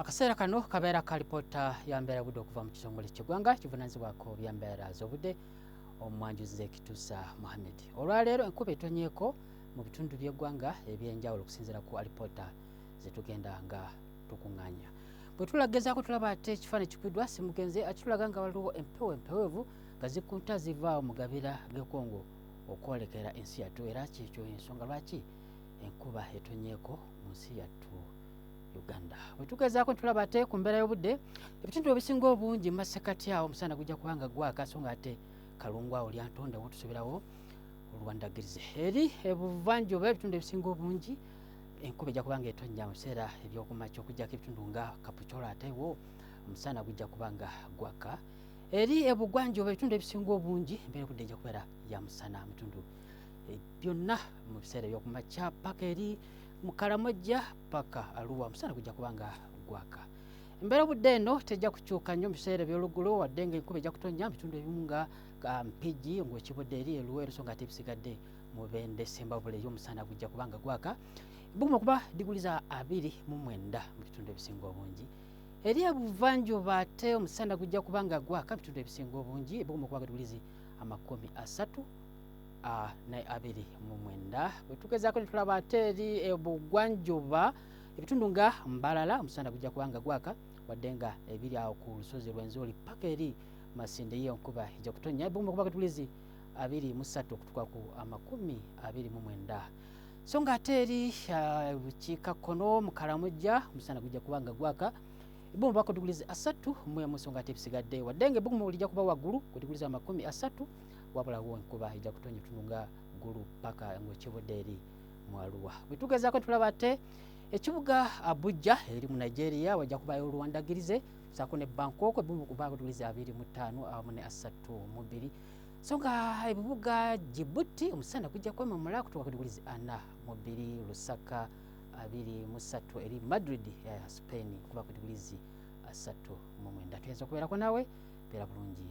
akaseera kano kabeera ka lipoota ya mbeera budde okuva mu kitongole kyegwanga kivunanyizibwako bya mbeera z'obudde omwanjuzi zekitusa muhammed olwaleero enkuba etonyeko mu bitundu by'eggwanga ebyenjawulo okusinziira ku alipoota zetugenda nga tukuŋŋanya bwe tulagezaako tulaba ate ekifaananyi kikubiddwa simugenzi akitulaga nga waliwo empewo empeweevu nga zikunta zivaawo mu gabira g'ekongo okwolekera ensi yattu era kyekyo ensonga lwaki enkuba etonyeeko mu nsi yattu uganda wetugezaako ntulaba ate ku mbeera y'obudde ebitundu ebisinga obungi mumasekati awo omusana gujja kuba nga gwaka so nga ate kalungu awo lyantonde wotusubirawo olwandagirize eri ebuvanjuba ebitundu ebisinga obungi enkuba ejja kuba nga etonnya mu biseera ebyokumakya okujjako ebitundu nga kapucolo atewo omusana gujja kuba nga gwaka eri ebugwanjuba ebitundu ebisinga obungi embeera obudde ejja kubeera ya musana mutundu eh, byonna mu biseera ebyokumakya paka eri mukalamojja paka aluwa omusana gujja kuba nga gwaka embeera obudde eno tejja kukyuka nnyo mu biseera ebyoluggulo wadde nga enkuba ejja kutonnya mu bitundu ebimu nga mpigi ngaekibudde eri eluweero so nga tebisigadde mu bende sembabule ey'omusana gujja kuba nga gwaka buguma kuba diguli za abiri mu mwenda mu bitundu ebisinga obungi eri ebuvanjuba ate omusana gujja kuba nga gwaka mu bitundu ebisinga obungi buguma kuba diguli zi amakumi asatu ne abiri mu mwenda bwe tugezaako ne tulaba ate eri ebugwanjuba ebitundu nga mbalala omusana gujja kuba nga gwaka wadde nga ebiri awo ku lusozi lw'enzuuli paka eri masinde ye enkuba ejja kutonnya ebumu okuba katulizi abiri mu ssatu okutuka ku amakumi abiri mu mwenda so nga ate eri bukiika kkono mu kalamujja omusana gujja kuba nga gwaka ebumu bakutuguliza asatu mu emu so nga ate ebisigadde wadde nga ebumu lijja kuba waggulu kutuguliza amakumi asatu wabula wo enkuba ejja kutonya otununga ggulu paka ngaokibude eri mu aluwa bwetugezako tulaba ate ekibuga abuja eri mu nigeria wajja kubayo oluwandagirize sako ne bankoko ebimu kubagulize abiri mu ttaano awamu ne asatu mu bbiri so nga ebibuga jibuti omusana kujja kwemamula kutuka kugulize ana mu bbiri lusaka abiri mu ssatu eri madrid ya eh, spain kuba kugulize asatu mu mwenda tuyinza okubeerako nawe beera bulungi